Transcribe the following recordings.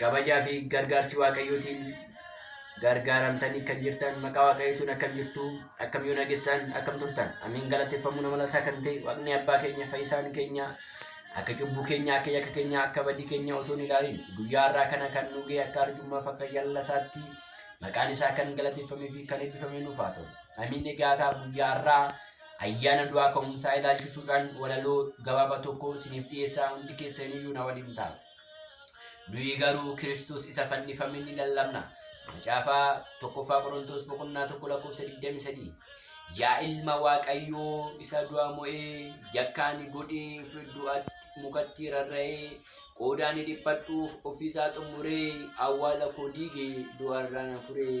kabajaa fi gargaarsi waaqayyootiin gargaaramtanii kan jirtan maqaa waaqayyootiin akkam jirtu akkam yoo nagessan akkam turtan amiin galateeffamuu nama lasaa kan ta'e waaqni abbaa keenya fayyisaan keenya akka cubbuu keenya akka yakka keenya akka badii keenya osoo hin ilaalin guyyaa har'aa kana kan nu ga'e akka arjummaaf akka jallasaatti maqaan isaa kan galateeffamee fi kan eebbifamee nuuf haa ta'u amiin egaa akka guyyaa har'aa ayyaana du'aa ka'umsaa ilaalchisuudhaan walaloo gabaabaa tokko isiniif dhiyeessaa hundi keessaniyyuu na waliin ta'a. Nuyi garuu Kiristoos isa fannifame ni lallabna. Macaafaa tokkoffaa Qorontoos boqonnaa tokko lakkoofsa 23. Yaa ilma Waaqayyoo isa du'a mo'ee yakkaa ni godhee fi du'atti mukatti rarra'ee qoodaa ni dhiphachuuf ofiisaa xumuree awwaala koo diigee du'arraa na furee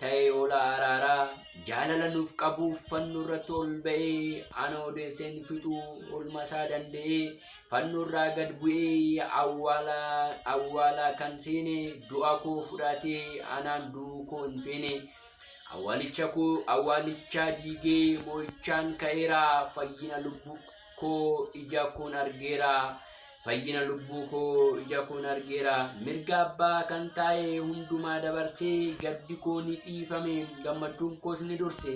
ta'ee oola araaraa jaalala nuuf qabuuf fannoo irratti ol ba'ee ana odeesseen fixuu olma isaa danda'ee fannoo irraa gad bu'ee awwaalaa awwaalaa kan seene du'a koo fudhatee anaan du'uu koo hin feene awwaalicha koo awwaalichaa diigee moo'ichaan ka'eera fayyina lubbuu koo ija koon argeera fayyina lubbuu koo ija koon argeera mirga abbaa kan taa'e hundumaa dabarsee gaddi koo ni dhiifame gammachuun koos ni durse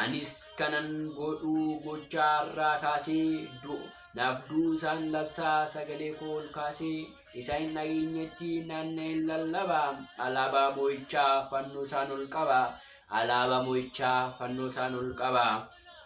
anis kanan godhuu gochaa irraa kaasee du'u naaf du'u isaan labsaa sagalee koo ol kaasee isa hin dhageenyetti naanna'een lallaba alaabaa moo'ichaa fannoo isaan ol qaba alaabaa moo'ichaa fannoo isaan ol qaba.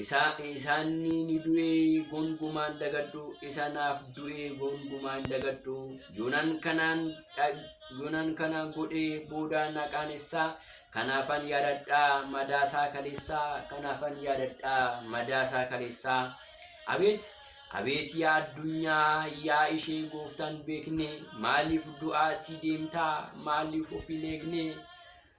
isa isaanni ni du'ee gongumaan dagadhu isa naaf du'ee gongumaan dagadhu yonan kanaan yonan kana godhee booda naqaan isaa kanaafan yaadadhaa madaasaa kaleessaa kanaafan yaadadhaa madaasaa kaleessaa abeet abeet yaa addunyaa yaa ishee gooftaan beekne maaliif du'aatii deemtaa maaliif of hin eegne